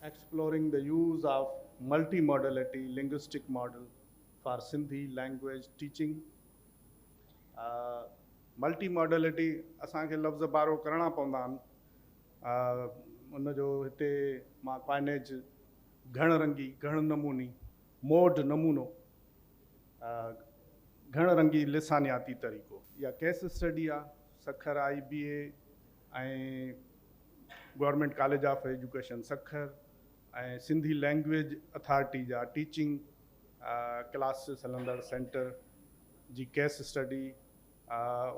Exploring the use of multimodality linguistic model for Sindhi language teaching multimodality اسان کي لفظ بارو ڪرڻا پوندا آهن ان جو هتي مان ڪوائنيج گهڻ رنگي گهڻ نموني موڊ نمونو گهڻ رنگي لسانياتي طريقو يا ڪيس اسٽڊي آهي Sukkur I B A ۽ government college of education Sukkur ۽ Sindhi language authority جا ٽيچنگ ڪلاسز هلندڙ سينٽر جي ڪيس اسٽڊي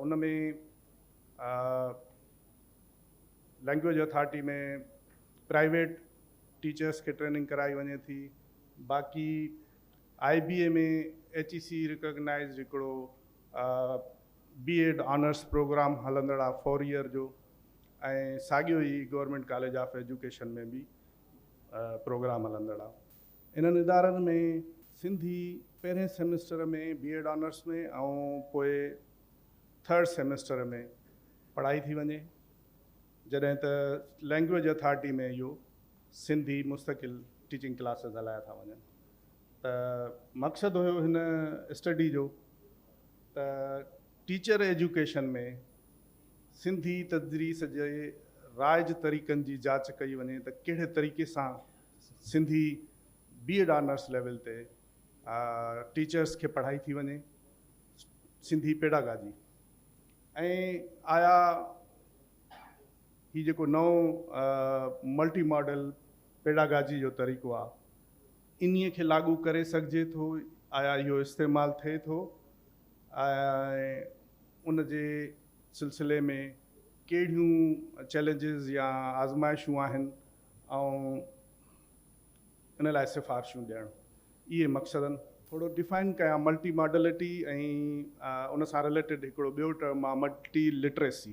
ان ۾ لينگويج اٿارٽي ۾ پرائيويٽ ٽيچرس کي ٽريننگ ڪرائي وڃي ٿي باقي آئي B A ۾ H A C recognised هڪڙو بي ايڊ آنرس پروگرام هلندڙا فور ييئر جو ۽ ساڳيو ئي گورنمينٽ ڪاليج آف ايجوڪيشن ۾ به پروگرام هلندڙا انهن ادارن ۾ سنڌي پهرين سيمسٽر ۾ بي ايڊ آنرس ۾ ۽ پوء ٿرڊ سيمسٽر ۾ پڙهائي ٿي وڃي جڏهن ته لينگويج اٿارٽي ۾ اهو سنڌي مستقل ٽيچنگ ڪلاسز هلايا ٿا وڃن ته مقصد هيو هن اسٽڊي جو ته ٽيچر ايجوڪيشن ۾ سنڌي تدريس جي رائج طريقن جي جاچ ڪئي وڃي ته ڪهڙي طريقي سان Sindhi B Ed honours level تي ٽيچرس کي پڙهائي ٿي وڃي سنڌي پيڊاگاجي ۽ آيا هي جيڪو نئون ملٽي ماڊل پيڊاگاجي جو طريقو آهي انهيء کي لاڳو ڪري سگهجي ٿو، آيا اهو استعمال ٿئي ٿو ۽ ان جي سلسلي ۾ ڪهڙيون چئلينجز يا آزمائشون آهن ۽ ان لاء سفارشون ڏيڻ اهي مقصدن ٿورو ڊفائن ڪيان، ملٽي ماڊلٽي ۽ ان سان رليٽيڊ هڪڙو ٻيو ٽرم آهي ملٽي لٽريسي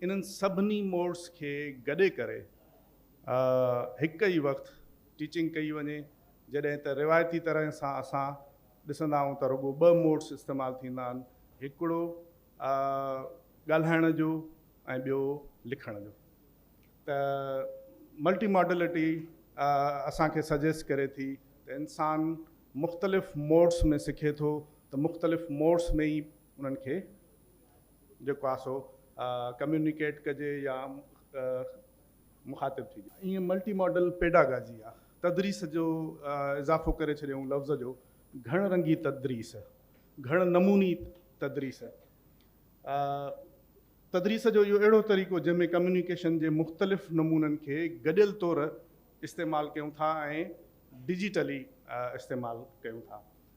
انهن سڀني موڊس کي گڏي ڪري هڪ ئي وقت ٽيچنگ ڪئي وڃي جڏهن ته روايتي طرح سان اسان ڏسندا آهيون ته رڳو ٻه موڊس استعمال ٿيندا آهن هڪڙو ڳالهائڻ جو ۽ ٻيو لکڻ جو ته ملٽي ماڊلٽي اسان کي سجيسٽ ڪري ٿي ته انسان مختلف موڊس ۾ سکي ٿو ته مختلف موڊس ۾ ئي انهن کي جيڪو آهي سو ڪميونيڪيٽ ڪجي يا مخاطب ٿجي. ائين ملٽي ماڊل پيڊاگاجي يا تدريس جو اضافو ڪري ڇڏيائون لفظ جو گهڻ رنگي تدريس، گهڻ نموني تدريس. تدريس جو اهو اهڙو طريقو جنهن ۾ ڪميونيڪيشن جي مختلف نمونن کي گڏيل طور استعمال ڪيون ٿا ۽ ڊجيٽلي استعمال ڪيون ٿا.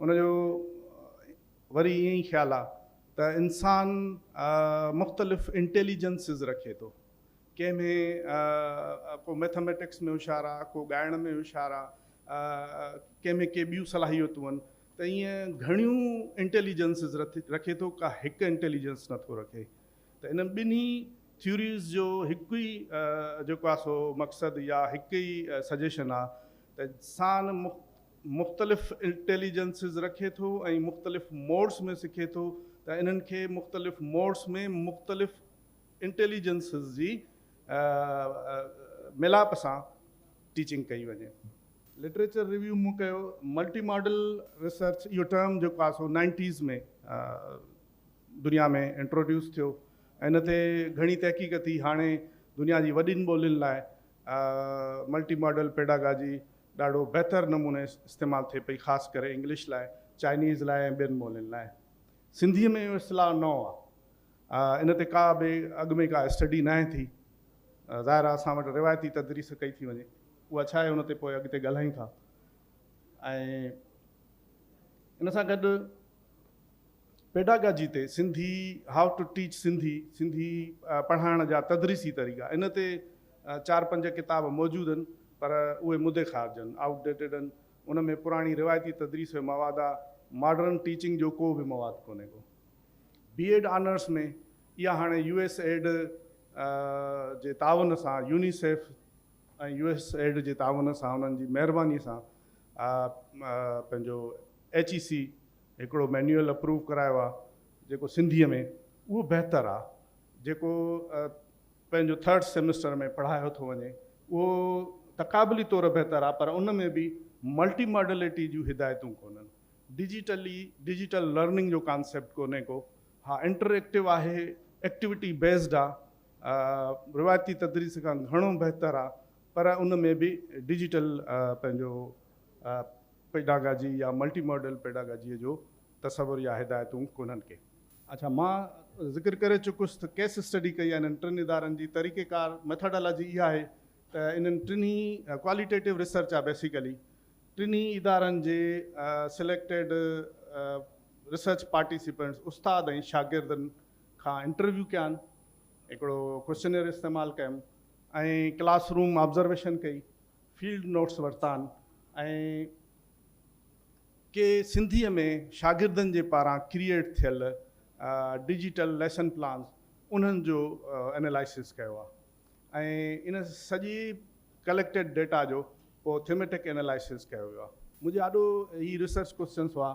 ان جو وري ائين ئي خيال آ ته انسان مختلف انٽيليجنسز رکي ٿو. ڪنهن ۾ ڪو ميٿاميٽڪس ۾ هوشيار آ، ڪو ڳائڻ ۾ هوشيار آ، ڪنهن ۾ ڪي ٻيون صلاحيتون آهن ته ائين گهڻيون انٽيليجنسز رکي ٿو ڪا هڪ انٽيليجنس نه ٿو رکي ته انهن ٻنهي ٿيوريز جو هڪ ئي جيڪو آ سو مقصد يا هڪ ئي سجيشن آ ته انسان مختلف انٽيليجنسز رکي ٿو ۽ مختلف موڊس ۾ سکي ٿو ته انهن کي مختلف موڊس ۾ مختلف انٽيليجنسز جي ميلاپ سان ٽيچنگ ڪئي وڃي. لٽريچر ريويو مون ڪيو ملٽي ماڊل ريسرچ اهو ٽرم جيڪو آهي سو نائنٽيز ۾ دنيا ۾ انٽروڊيوس ٿيو ۽ ان تي گهڻي تحقيق ٿي هاڻي دنيا جي وڏين ٻولين لاء ملٽي ماڊل پيڊاگاجي ڏاڍو بهتر نموني استعمال ٿئي پئي خاص ڪري انگلش لاء، چائنيز لاء ۽ ٻين ٻولين لاء. سنڌيء ۾ اهو اصطلاح نئون آ. ان تي ڪا به اڳ ۾ ڪا اسٽڊي ناهي ٿي. ظاهر آ اسان وٽ روايتي تدريس ڪئي ٿي وڃي. اها ڇا آهي ان تي پوء اڳتي ڳالهايون ٿا. ۽ ان سان گڏ پيڊاگاجي تي Sindhi, How to Teach Sindhi، Sindhi پڙهائڻ جا تدريسي طريقا، ان تي چار پنج ڪتاب موجود هن پر اهي مدي خارج هن، Out Dated، هن. ان ۾ پراڻي روايتي تدريس جو مواد آ، ماڊرن ٽيچنگ جو ڪو به مواد ڪونهي ڪو. بي ايڊ آنرس ۾ اها هاڻي يو ايس ايڊ جي تعاون سان، يونيسيف ۽ يو ايس ايڊ جي تعاون سان انهن جي مهرباني سان پنهنجو ايڇ اي سي هڪڙو مينيول اپروو ڪرايو آ جيڪو سنڌي ۾ اهو بهتر آ جيڪو پنهنجو ٿرڊ سيمسٽر ۾ پڙهايو ٿو وڃي اهو تقابلي طور بهتر آ پر ان ۾ به ملٽي ماڊليٽي جون هدايتون ڪونهن ڊجيٽلي ڊجيٽل لرننگ جو ڪانسيپٽ ڪونهي ڪو ها انٽر ايڪٽو آهي ايڪٽيوٽي بيسڊ آ روايتي تدريس کان گهڻو بهتر آ پر ان ۾ به ڊجيٽل پنهنجو پيڊاگاجي يا ملٽي ماڊل پيڊاگاجيء جو تصور يا هدايتون ڪونهن ڪي. اچا مان ذڪر ڪري چڪس ته ڪيس اسٽڊي ڪئي آهي انهن ٽن ادارن جي طريقه ڪار ميٿاڊالاجي اها آهي ته انهن ٽنهي ڪواليٽيٽو ريسرچ آهي بيسيڪلي ٽنهي ادارن جي سليڪٽيڊ ريسرچ پارٽيسيپنٽس استاد ۽ شاگردن کان انٽرويو ڪيان هڪڙو ڪوسچنيئر استعمال ڪيم ۽ ڪلاس روم آبزرويشن ڪئي فيلڊ نوٽس ورتان ۽ ڪي سنڌيء ۾ شاگردن جي پاران ڪريئيٽ ٿيل ڊجيٽل ليسن پلانز انهن جو انالائسز ڪيو آهي ۽ ان سڄي ڪليڪٽيڊ ڊيٽا جو پوء ٿيميٽڪ انالائسز ڪيو ويو آهي. منهنجي آڏو هي ريسرچ ڪوئسچنز هئا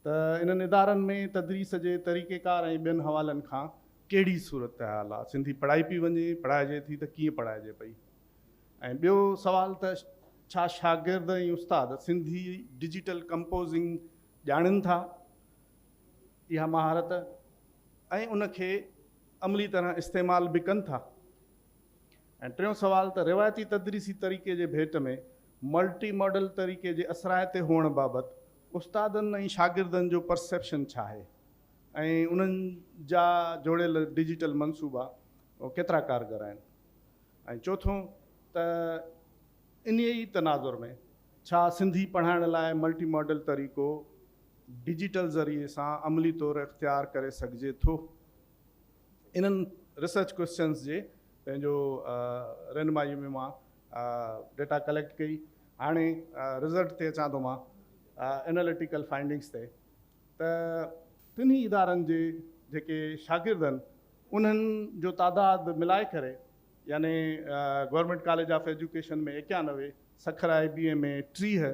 ته انهن ادارن ۾ تدريس جي طريقيڪار ۽ ٻين حوالن کان ڪهڙي صورتحال آهي، سنڌي پڙهائي پئي وڃي، پڙهائجي ٿي ته ڪيئن پڙهائجي پئي. ۽ ٻيو سوال ته ڇا شاگرد ۽ استاد سنڌي ڊجيٽل ڪمپوزنگ ڄاڻين ٿا؟ اها مهارت ۽ ان کي عملي طرح استعمال به ڪن ٿا؟ ۽ ٽيون سوال ته روايتي تدريسي طريقي جي ڀيٽ ۾ ملٽي ماڊل طريقي جي اثرائتي هئڻ بابت استادن ۽ شاگردن جو پرسيپشن ڇا آهي ۽ انهن جا جوڙيل ڊجيٽل منصوبا ڪيترا ڪارگر آهن؟ ۽ چوٿون ته انهيء ئي تناظر ۾ ڇا سنڌي پڙهائڻ لاء ملٽي ماڊل طريقو ڊجيٽل ذريعي سان عملي طور اختيار ڪري سگهجي ٿو؟ انهن ريسرچ ڪوئسچنز جي پنهنجو رهنمائيء ۾ مان ڊيٽا ڪليڪٽ ڪئي. هاڻي رزلٽ تي اچان ٿو مان اناليٽيڪل فائنڊنگز تي ته ٽنهي ادارن جي جيڪي شاگرد آهن انهن جو تعداد ملائي ڪري يعني گورنمينٽ ڪاليج آف ايجوڪيشن ۾ ايڪيانوي، سکر آء بي اي ۾ ٽيهه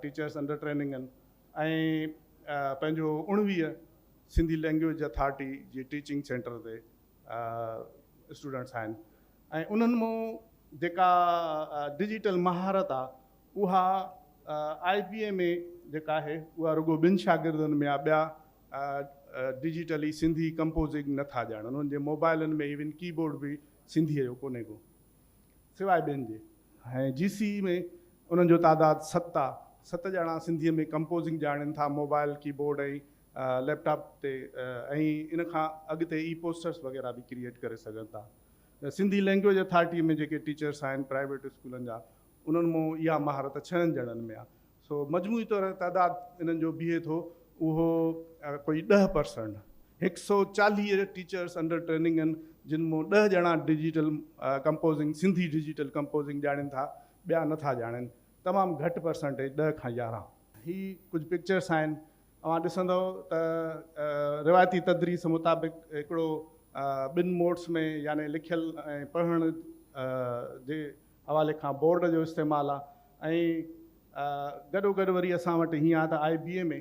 ٽيچرس انڊر ٽريننگ آهن ۽ پنهنجو اوڻويهه سنڌي لينگويج اٿارٽي جي ٽيچنگ سينٽر تي اسٽوڊنٽس آهن ۽ انهن مون جيڪا ڊجيٽل مهارت آهي اها آء پي ايم اي جيڪا آهي اها رڳو ٻن شاگردن ۾ آ ٻيا ڊجيٽلي سنڌي ڪمپوزنگ نه ٿا ڄاڻن انهن جي موبائلن ۾ ايون ڪي بورڊ به سنڌي جو ڪونهي ڪو سواء ٻين جي ۽ جي سي اي ۾ انهن جو تعداد ست آ ست ڄڻا سنڌي ۾ ڪمپوزنگ ڄاڻين ٿا mobile keyboard ۽ laptop تي ۽ ان کان اڳتي اي پوسٽرس وغيره به ڪريئيٽ ڪري سگهن ٿا سنڌي لينگويج اٿارٽي ۾ جيڪي ٽيچرس آهن پرائيويٽ اسڪولن جا انهن مان اها مهارت ڇهن ڄڻن ۾ آ سو مجموعي طور تعداد انهن جو بيهي ٿو اهو ڪوئي ڏهه پرسنٽ هڪ سئو چاليهه ٽيچرس انڊر ٽريننگ آهن جن مان ڏهه ڄڻا digital composing Sindhi digital composing ڄاڻين ٿا ٻيا نه ٿا ڄاڻين تمام گهٽ پرسنٽيج ڏهه کان يارهن. هي ڪجهه پڪچرس آهن اوهان ڏسندئو ته روايتي تدريس مطابق هڪڙو ٻن موڊس ۾ يعني لکيل ۽ پڙهڻ جي حوالي کان بورڊ جو استعمال آ ۽ گڏو گڏ وري اسان وٽ ھيئن آ ته آء بي اي ۾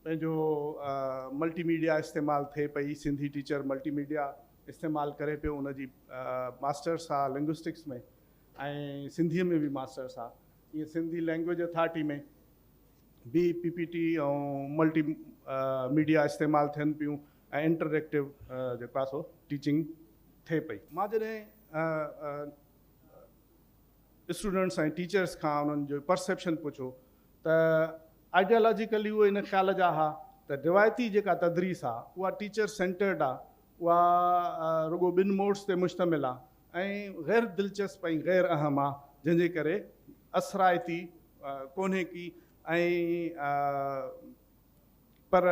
پنھنجو ملٽي ميڊيا استعمال ٿئي پئي سنڌي ٽيچر ملٽي ميڊيا استعمال ڪري پيو ان جي ماسٽرس آ لنگوسٽڪس ۾ ۽ سنڌي ۾ به ماسٽرس آ ائين سنڌي لينگويج اٿارٽي ۾ به P P T ۽ multimedia استعمال ٿين پيون ۽ انٽر ايڪٽو جيڪو آ سو ٽيچنگ ٿئي پئي. مان جڏھن اسٽوڊنٽس ۽ ٽيچرس کان انهن جو پرسيپشن پڇو ته آئيڊيالاجيڪلي اهي ان خيال جا ها ته روايتي جيڪا تدريس آهي اها ٽيچر سينٽرڊ آهي اها رڳو ٻن موڊس تي مشتمل آهي ۽ غير دلچسپ ۽ غير اهم آهي جنهن جي ڪري اثرائتي ڪونهي ڪي ۽ پر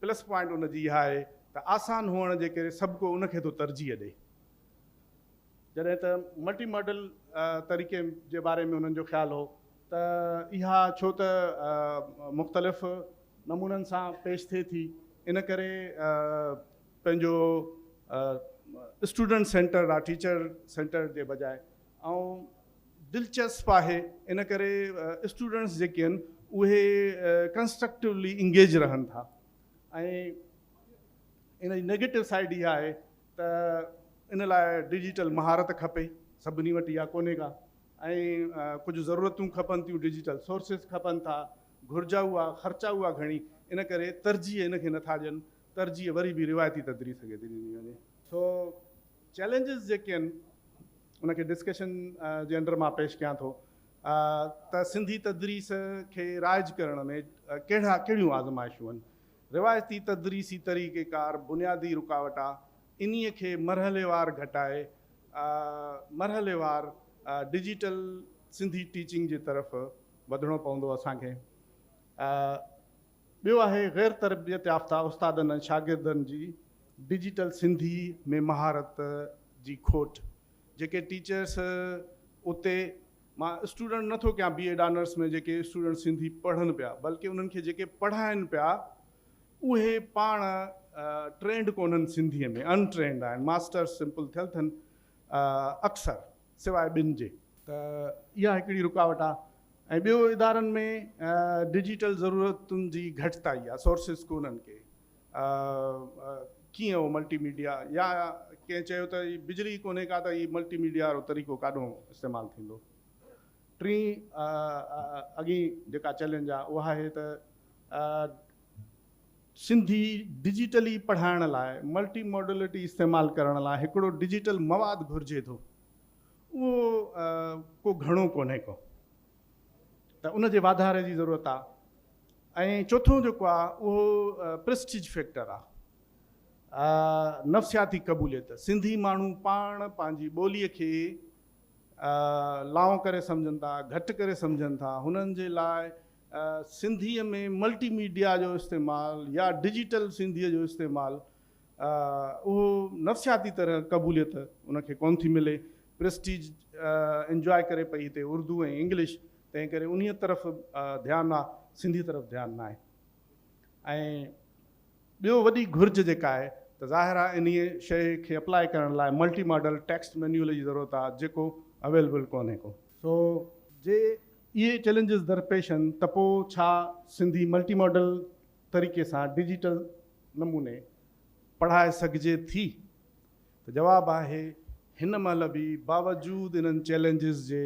پلس پوائنٽ ان جي اها آهي ته آسان هئڻ جي ڪري سڀڪو ان کي ٿو ترجيح ڏئي. جڏهن ته ملٽي ماڊل طريقي جي باري ۾ انهن جو خيال هو ته اها ڇو ته مختلف نمونن سان پيش ٿئي ٿي ان ڪري پنهنجو اسٽوڊنٽ سينٽرڊ آ ٽيچر سينٽرڊ جي بجاء ۽ دلچسپ آهي ان ڪري اسٽوڊنٽس جيڪي آهن اهي ڪنسٽرڪٽوولي انگيج رهن ٿا ۽ ان جي نيگيٽو سائيڊ اها آهي ته ان لاء ڊجيٽل مهارت کپي، سڀني وٽ اها ڪونهي ڪا ۽ ڪجهه ضرورتون کپن ٿيون، ڊجيٽل سورسز کپن ٿا، گهرجا اها، خرچا اها گهڻي، ان ڪري ترجيح ان کي نٿا ڏين، ترجيح وري به روايتي تدريس کي ٿي ڏني وڃي. سو چئلينجز جيڪي آهن ان کي ڊسڪشن جي انڊر مان پيش ڪيان ٿو ته سنڌي تدريس کي رائج ڪرڻ ۾ ڪهڙا ڪهڙيون آزمائشون آهن، روايتي تدريسي طريقه ڪار بنيادي رڪاوٽ آ انهي کي مرحليوار گهٽائي مرحليوار ڊجيٽل سنڌي ٽيچنگ جي طرف وڌڻو پوندو اسان کي ٻيو آهي غير تربيت يافته استادن ۽ شاگردن جي ڊجيٽل سنڌي ۾ مهارت جي کوٽ جيڪي ٽيچرس اتي مان اسٽوڊنٽ نه ٿو ڪيان بي ايڊ آنرس ۾ جيڪي اسٽوڊنٽ سنڌي پڙهن پيا بلڪه انهن کي جيڪي پڙهائن پيا اهي پاڻ ٽرينڊ ڪونهن سنڌي ۾ ان ٽرينڊ آهن ماسٽرس سمپل ٿيل ٿن اڪثر سواء ٻن جي. ته اها هڪڙي رڪاوٽ آهي ۽ ٻيو ادارن ۾ ڊجيٽل ضرورتن جي گهٽتائي آهي سورسز ڪونهن ڪي. ڪيئن اهو ملٽي ميڊيا يا ڪنهن چيو ته هي بجلي ئي ڪونهي ڪا ته هي ملٽي ميڊيا وارو طريقو ڪاڏهون استعمال ٿيندو. ٽين اڳين جيڪا چئلينج آهي اها آهي ته سنڌي ڊجيٽلي پڙهائڻ لاء ملٽي ماڊلٽي استعمال ڪرڻ لاء هڪڙو ڊجيٽل مواد گهرجي ٿو اهو ڪو گهڻو ڪونهي ڪو. ته ان جي واڌاري جي ضرورت آ ۽ چوٿون جيڪو آ اهو پرسٽيج فيڪٽر آ نفسياتي قبوليت سنڌي ماڻهو پاڻ پنهنجي ٻولي کي لانء ڪري سمجهن ٿا گهٽ ڪري سمجهن ٿا هنن جي لاء سنڌي ۾ ملٽي ميڊيا جو استعمال يا ڊجيٽل سنڌي جو استعمال اهو نفسياتي طرح قبوليت ان کي ڪونه ٿي ملي، پريسٽيج انجواء ڪري پئي هتي اردو ۽ انگلش، تنهن ڪري انهيء طرف ڌيان آ، سنڌي طرف ڌيان ناهي. ۽ ٻيو وڏي گهرج جيڪا آهي ته ظاهر آ انهيء شيء کي اپلائي ڪرڻ لاء ملٽي ماڊل ٽيڪسٽ مينيول جي ضرورت آ، جيڪو اويلبل ڪونهي ڪو. سو جي اهي چئلينجز درپيش آهن ته پوء ڇا سنڌي ملٽي ماڊل طريقي سان ڊجيٽل نموني پڙهائي سگهجي ٿي؟ ته جواب آهي هن مهل به باوجود انهن چئلينجز جي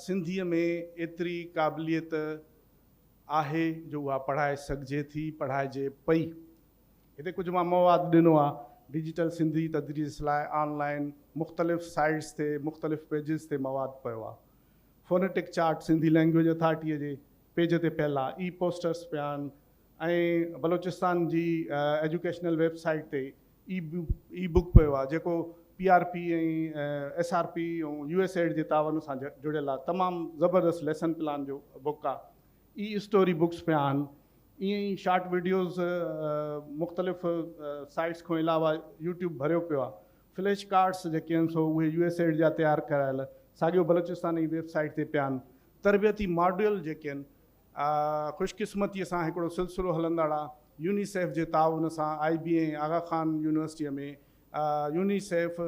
سنڌي ۾ ايتري قابليت آهي جو اها پڙهائي سگهجي ٿي، پڙهائجي پئي. هتي ڪجهه مان مواد ڏنو آهي ڊجيٽل سنڌي تدريس لاء آن لائين مختلف سائيٽس تي مختلف پيجز تي مواد پيو آهي. فونيٽڪ چارٽ سنڌي لئنگويج اٿارٽيء جي پيج تي پيلا اي پوسٽرز پيا آهن ۽ بلوچستان جي ايجوڪيشنل ويب سائيٽ تي اي بوڪ پيو آهي جيڪو P R P ۽ S R P ۽ U S add جي تعاون سان جڙيل آهي تمام زبردست ليسن پلان جو بوڪ آهي اي اسٽوري بوڪس پيا آهن ائين ئي شارٽ وڊيوز مختلف سائيٽس کان علاوه يوٽيوب ڀريو پيو آهي فليش ڪارڊس جيڪي آهن سو اهي يو ايس ايڊ جا تيار ڪرايل ساڳيو بلوچستان جي ويب سائيٽ تي پيا آهن. تربيتي ماڊيول جيڪي آهن خوش قسمتي سان هڪڙو سلسلو هلندڙ آهي يونيسيف جي تعاون سان I B N Aga Khan university ۾ UNICEF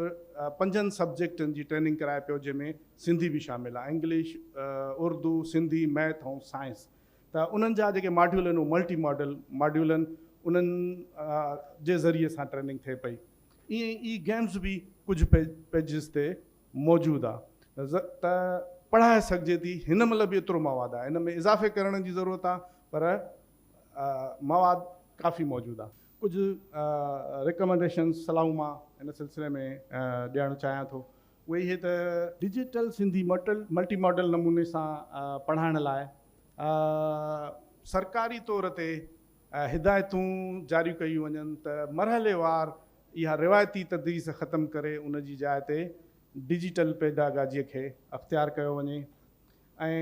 پنجن سبجيڪٽن جي ٽريننگ ڪرائي پيو جنهن ۾ سنڌي به شامل آهي English Urdu Sindhi math ۽ science ته انهن جا جيڪي ماڊيول آهن اهي ملٽي ماڊل ماڊيول آهن انهن جي ذريعي سان ٽريننگ ٿئي پئي. ائين ئي گيمز به ڪجهه پيجز تي موجود آ ته پڙهائي سگهجي ٿي هن مهل به ايترو مواد آ ان ۾ اضافي ڪرڻ جي ضرورت آ پر مواد ڪافي موجود آ. ڪجهه رڪمنڊيشنز صلاحون مان هن سلسلي ۾ ڏيڻ چاهيان ٿو اهي هي ته. ڊجيٽل سنڌي ملٽي ماڊل نموني سان پڙهائڻ لاء سرڪاري طور تي هدايتون جاريون ڪيون وڃن ته مرحليوار اها روايتي تدريس ختم ڪري ان جي جاء تي ڊجيٽل پيڊاگاجيء کي اختيار ڪيو وڃي ۽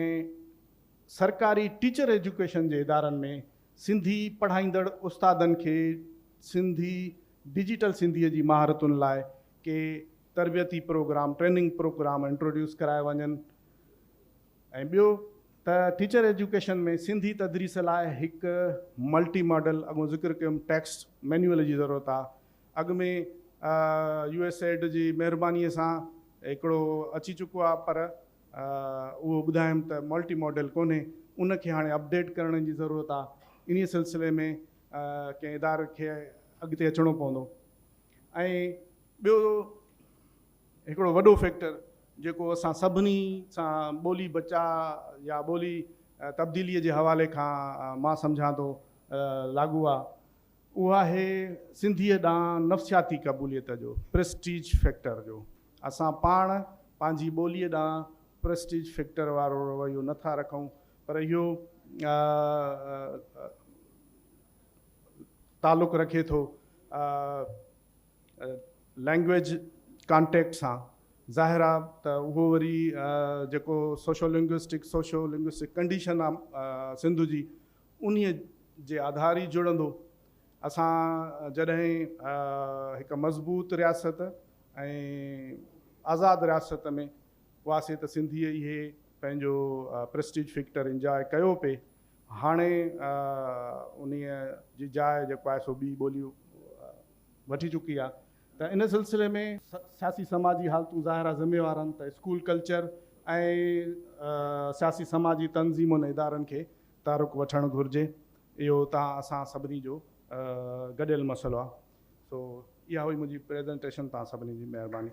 سرڪاري ٽيچر ايجوڪيشن جي ادارن ۾ سنڌي پڙهائيندڙ استادن کي سنڌي ڊجيٽل سنڌيء جي مهارتن لاء ڪي تربيتي پروگرام، ٽريننگ پروگرام، انٽروڊيوس ڪرايا وڃن. ۽ ٻيو ته ٽيچر ايجوڪيشن ۾ سنڌي تدريس لاء هڪ ملٽي ماڊل اڳون ذڪر ڪيم ٽيڪسٽ مينيول جي ضرورت آ اڳ ۾ يو ايس ايڊ جي مهرباني سان هڪڙو اچي چڪو آ پر اهو ٻڌايم ته ملٽي ماڊل ڪونهي ان کي هاڻي اپڊيٽ ڪرڻ جي ضرورت آ انهي سلسلي ۾ ڪنهن اداري کي اڳتي اچڻو پوندو ۽ ٻيو هڪڙو وڏو فيڪٽر جيڪو اسان سڀني سان ٻولي بچاء يا ٻولي تبديلي جي حوالي کان مان سمجهان ٿو لاڳو آ اهو آهي سنڌيء ڏانهن نفسياتي قبوليت جو پريسٽيج فيڪٽر جو اسان پاڻ پنهنجي ٻولي ڏانهن پريسٽيج فيڪٽر وارو رويو نه ٿا رکون پر اهو تعلق رکي ٿو لئنگويج ڪانٽيڪٽ سان ظاهر آ ته اهو وري جيڪو socio linguistic socio linguistic condition آ سنڌ جي انهي جي آڌار ئي جڙندو. اسان جڏهن هڪ مضبوط رياست ۽ آزاد رياست ۾ هئاسي ته سنڌيء اهي پنهنجو پريسٽيج فيڪٽر انجاء ڪيو پي هاڻي انهي جي جاء جيڪو آهي سو ٻي ٻولي وٺي چڪي آهي ته ان سلسلي ۾ سياسي سماجي حالتون ظاهرا ذميوار آهن ته اسڪول ڪلچر ۽ سياسي سماجي تنظيمن ادارن کي تحرڪ وٺڻ گهرجي اهو تان اسان سڀني جو گڏيل مسئلو آهي سو اها هئي منهنجي پريزنٽيشن تان سڀني جي مهرباني.